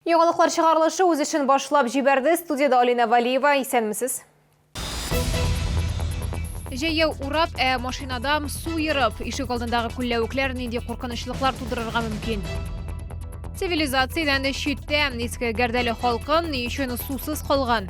Яңалыклар чыгарылышы үз эшен башлап җибәрде. Студиядә Алина Валиева. Исәнмесез. Җәяү урап, ә машинадам су ерып, ишек алдындагы күлләвекләр нинди куркынычлыклар тудырырга мөмкин? Цивилизациядән читтә иске Гәрдәле халкы ни өчен сусыз калган?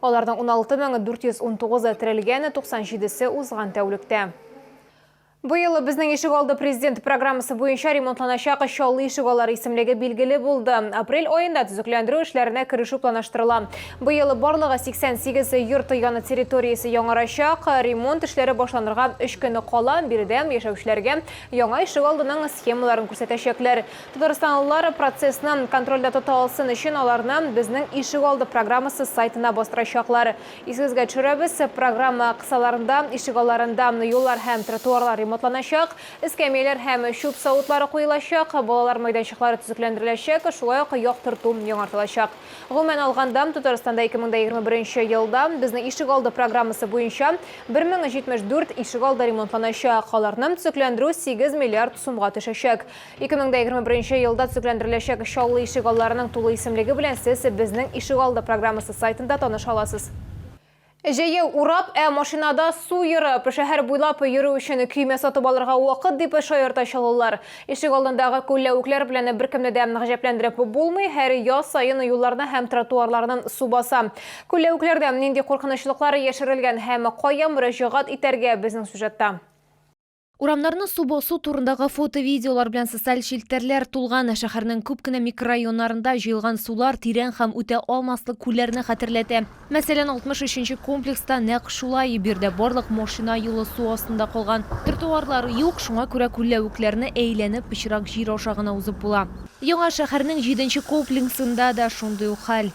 Аларның 16 меңы 419-ы терелгән, 97-се узган тәүлектә. Быел безнең ишегалды президент программасы буенча ремонтланачак Чаллы ишегаллары исемлеге билгеле булды. Апрель аенда төзекләндерү эшләренә керешү планлаштырыла. Быел барлыгы 88 йорт яны территориясе яңарачак. Ремонт эшләре башланырга 3 көн кала. Биредә яшәүчеләргә яңа ишегалдының схемаларын күрсәтәчәкләр. Татарстанлылар процессны контрольдә тота алсын өчен аларны Безнең ишегалды программасы сайтына бастырачаклар. Исегезгә төшерәбез, программа кысаларында ишегалларында юллар һәм тротуарлар ремонтланачак, эскәмияләр һәм чүп савытлары куелачак, балалар майданчыклары төзекләндереләчәк, шулай ук яктырту яңартылачак. Гомумән алганда, Татарстанда 2021 елда Безнең ишегалды программасы буенча 1074 ишегалды ремонтланачак, аларны төзекләндерү 8 миллиард сумга төшәчәк. 2021 нче елда төзекләндереләчәк Чаллы ишегалларының тулы исемлеге белән сез Безнең ишегалды программасы сайтында таныша аласыз. Җәяү урап, ә машинада су ерып, шәһәр буйлап йөрү өчен көймә сатып алырга вакыт, дип шаярта чаллылар. Ишегалдындагы күлләвекләр белән беркемне дә гаҗәпләндереп булмый, һәр яз саен юлларны һәм тротуарларнын су баса. Күлләвекләрдә нинди куркынычлыклар яшерелгән һәм кая мөрәҗәгать итәргә, безнең сюжетта. Урамнарны су басу турындагы фото-видеолар белән социаль челтәрләр тулган. Шәһәрнең күп кенә микрорайоннарында җыелган сулар тирән һәм үтә алмаслык күлләрне хәтерләтә. Мәсәлән, 63 нче комплекста нәкъ шулай, биредә барлык машина юлы су астында калган. Тротуарлар юк, шуңа күрә күлләвекләрне әйләнеп, пычрак җир аша гына узып була. Яңа шәһәрнең җиденче комплексында да шундый ук хәл.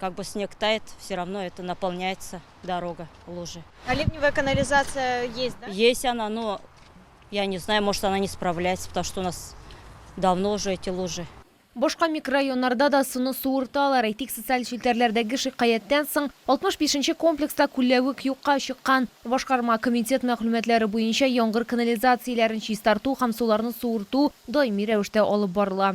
как бы снег тает, все равно это наполняется дорога, лужи. А ливневая канализация есть, да? Есть она, но я не знаю, может она не справляется, потому что у нас давно уже эти лужи. Башка микрорайоннарда да суны суырталар. Әйтик, социаль челтәрләрдәге шикаяттән соң 65-нче комплекста күләвек юкка чыккан. Башкарма комитет мәгълүматлары буенча яңгыр канализацияләрен чистарту һәм суларны суырту даими рәвештә алып барыла.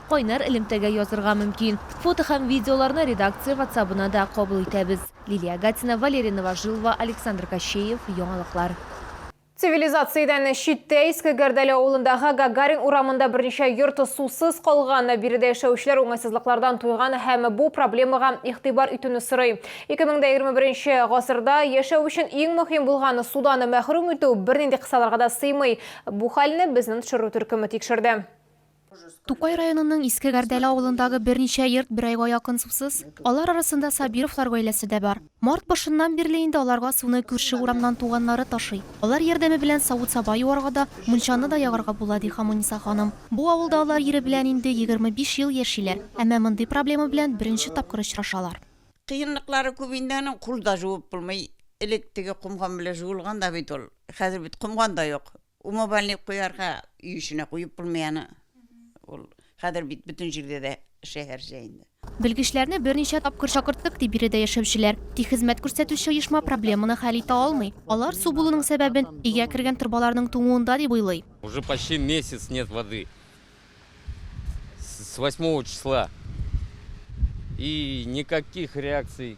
Кайнар элемтәгә язырга мөмкин. Фото һәм видеоларны редакция ватсабына да кабул итәбез. Лилия Гатина, Валерий Новожилова, Александр Кощеев, Яңалыклар. Цивилизациядән читтә Иске Гәрдәле авылындагы Гагарин урамында берничә йорт сусыз калган. Биредә яшәүчеләр уңайсызлыклардан туйган һәм бу проблемага игътибар итүне сорый. Ике мең дә егерме беренче гасырда яшәү өчен иң мөһим булган судан мәхрүм итү бернинди кысаларга да сыймый. Бу хәлне безнен тшру төркеме тикшерде. Тукай районының Иске Гәрдәле авылындагы берничә йорт бер айга якын сусыз. Алар арасында Сабировлар гаиләсе дә бар. Март башыннан бирле инде аларга суны күрше урамнан туганнары ташый. Алар ярдәме белән савыт-саба юарга да, мунчаны да ягарга була, ди Хамуниса ханым. Бу авылда алар ире белән инде егерме биш ел яшиләр, әмма мондый проблема белән беренче тапкыр очрашалар. Кыенлыклары күп инде аның, кул да жуып булмый. Элек теге комган белән жуылган да бит ул. Хәзер бит комган да юк. Умывальник куярга өй эченә куеп булмый аны. Ул хәзер бит бөтен җирдә дә шәһәрчә инде. Белгечләрне берничә тапкыр чакырттык, ди биредә яшәүчеләр. Тик хезмәт күрсәтүче оешма проблеманы хәл итә алмый. Алар су булуның сәбәбен өйгә кергән торбаларның туңуында дип уйлый. Уже почти месяц нет воды. С восьмого числа. И никаких реакций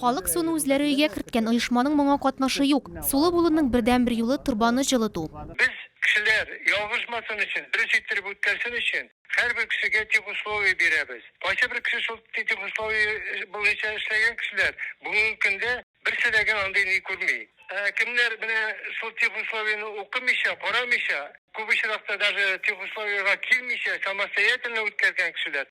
Халык суны үзләре өйгә керткән, оешманың моңа катнашы юк. Сулы булуның бердәнбер юлы, торбаны җылыту. Без, кешеләр, ялгышмасын өчен, дөрес иттереп үткәрсен өчен, һәрбер кешегә техусловие бирәбез. Кайсыбер кеше шул техусловие буенча эшләгән кешеләр бүгенге көндә берсе дә генә андый ни күрми. Ә кемнәр менә шул техусловиене укымыйча, карамыйча, күп очракта даже техусловиега килмичә самостоятельно үткәргән кешеләр,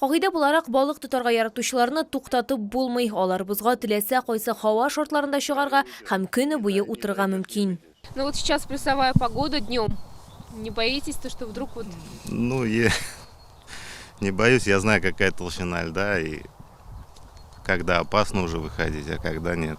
Кагыйдә буларак, балык тотарга яратучыларны туктатып булмый, алар бозга теләсә кайсы һава шартларында чыгарга һәм көне буе утырырга мөмкин. Ну вот сейчас плюсовая погода днем. Не боитесь то, что вдруг вот. Ну я не боюсь, я знаю, какая толщина льда и когда опасно уже выходить, а когда нет.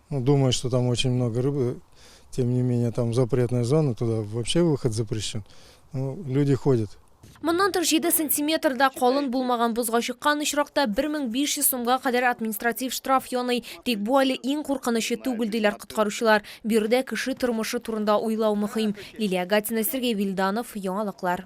Ну, думаю, что там очень много рыбы. Тем не менее, там запретная зона, туда вообще выход запрещен. Но люди ходят. Моннан тыш 7 сантиметрда калын булмаган бозга чыккан очракта 1500 сумга кадәр административ штраф яный. Тик бу әле иң куркынычы түгел, диләр коткаручылар. Биредә кеше тормышы турында уйлау мөһим. Лилия Гатина, Сергей Вильданов, Яңалыклар.